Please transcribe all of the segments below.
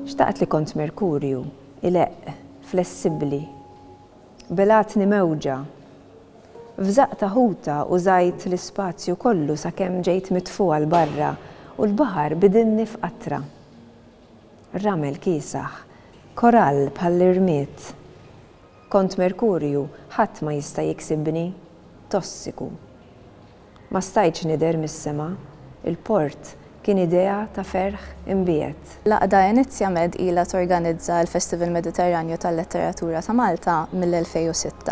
Xtaqt li kont merkurju, ileqq, flessibbli. Belgħatni mewġa. F'żaqq ta' ħuta użajt l-ispazju kollu sakemm ġejt mitfugħa 'l barra u l-baħar bidilni f'qatra. Ramel kiesaħ. Korall bħall-irmied. Kont merkurju, ħadd ma jista' jiksibni. Tossiku. Ma stajtx nidher mis-sema, il-port kien idea ta' ferħ imbiegħed. L-għaqda Enizia Med ilha torganizza l-Festival Mediterranju tal-Letteratura ta' Malta mill-2006.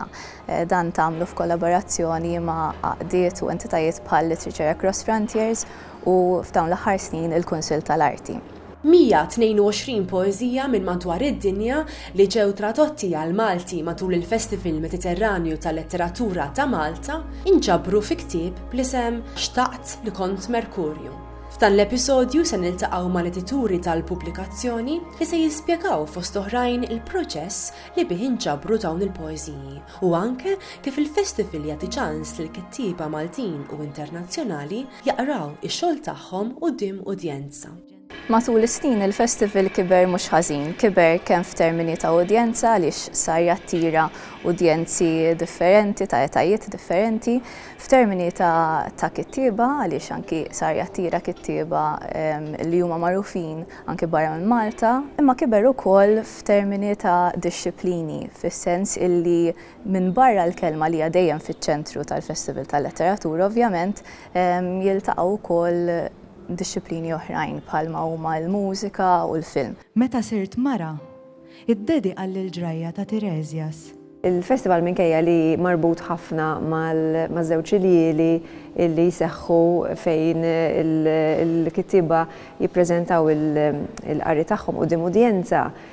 Dan tagħmlu f'kollaborazzjoni ma' għaqdiet u entitajiet bħal Literature Across Frontiers u, f'dawn l-aħħar snin, il-Kunsill tal-Arti. 122 poeżija minn madwar id-dinja li ġew tradotti għall-Malti matul il-Festival Mediterranju tal-Letteratura ta' Malta nġabru fi ktieb bl-isem Xtaqt li kont Merkurju. F'dan l-episodju se niltaqgħu mal-edituri tal-pubblikazzjoni li se jispjegaw fost oħrajn il-proċess li bih inġabru dawn il-poeżiji u anke kif il-Festival jagħti ċans lill-kittieba Maltin u internazzjonali jaqraw ix-xogħol tagħhom quddiem udjenza. Matul is-snin il-festival kiber mhux ħażin, kiber kemm f'termini ta' udjenza għaliex sar jattira udjenzi differenti ta' etajiet differenti, f'termini ta' kittieba għaliex anki sar jattira kittieba li huma magħrufin anki barra minn Malta, imma kiber ukoll f'termini ta' dixxiplini fis-sens illi Minbarra l-kelma li hija dejjem fiċ-ċentru tal-Festival tal-Letteratura ovvjament jiltaqgħu wkoll dixxiplini oħrajn bħalma huma l-mużika u l-film. Meta sirt mara, iddedika l-Ġrajja ta' Tiresias. Il-Festival minkejja li marbut ħafna maż-żewġ iljieli li jseħħu fejn il-kittieba jippreżentaw il-qari tagħhom quddiem udjenza,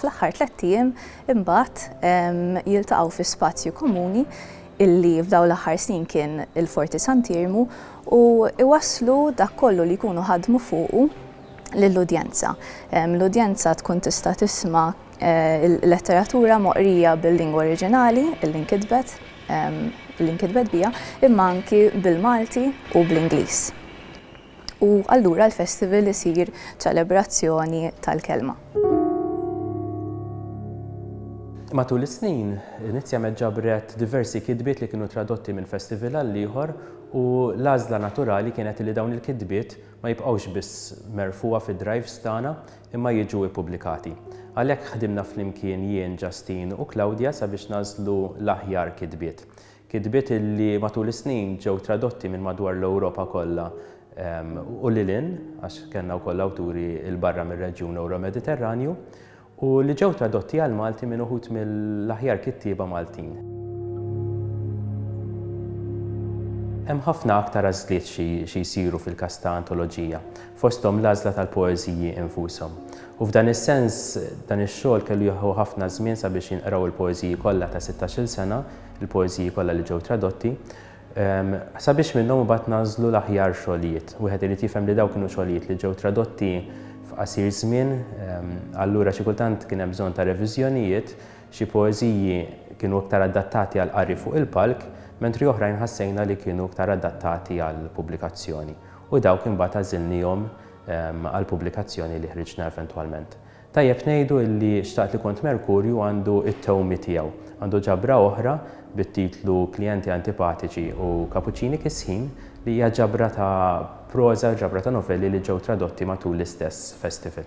Fl-aħħar tlett ijiem imbagħad jiltaqgħu fi spazju komuni illi f'dawn l-aħħar snin kien il-Forti Sant'Iermu u jwasslu dak kollu li jkunu ħadmu fuqu lill-udjenza. L-udjenza tkun tista' tisma' l-letteratura moqrija bil-lingwa oriġinali illi nkitbet illi nkitbet biha imma anki bil-Malti u bl-Ingliż. U allura l-festival isir ċelebrazzjoni tal-kelma. Matul is-snin, Nizziamed ġabret diversi kitbiet li kienu tradotti minn festival għal ieħor u l-għażla naturali kienet li dawn il-kitbiet ma jibqgħux biss merfugħa fid-drives tagħna imma jiġu ippubblikati. Għalhekk ħdimna flimkien jien, Justine u Claudia sabiex nagħżlu l-aħjar kitbiet. Kitbiet li matul is-snin ġew tradotti minn madwar l-Ewropa kollha u lil hinn, għax kellna wkoll awturi 'l barra mir-reġjun Ewro-Mediterranju, u li ġew tradotti għall-Malti minn uħud mill-aħjar kittieba Maltin. Hemm ħafna aktar għażliet xi jsiru fil-każ ta' antoloġija, fosthom l-għażla tal-poeżiji infushom. U f'dan is-sens, dan ix-xogħol kellu jieħu ħafna żmien sabiex jinqraw il-poeżiji kollha ta' sittax-il sena, il-poeżiji kollha li ġew tradotti, ehm, sabiex minnhom imbagħad nażlu l-aħjar xogħlijiet. Wieħed irid jifhem li dawk kienu xogħlijiet li ġew tradotti f'qasir żmien, ehm, allura xi kultant kien hemm bżonn ta' reviżjonijiet, xi poeżiji kienu iktar adattati għal qari fuq il-palk, mentri oħrajn ħassejna li kienu iktar adattati għal pubblikazzjoni. U dawk imbagħad għażilnihom ehm, għal pubblikazzjoni li ħriġna eventwalment. Tajjeb ngħidu illi Xtaqt li kont Merkurju għandu t-tewmi tiegħu. Għandu ġabra oħra bit-titlu Klijenti antipatiċi u Kapuċċini kisħin li hija ġabra ta' proża u ġabra ta' novelli li ġew tradotti matul l-istess festival.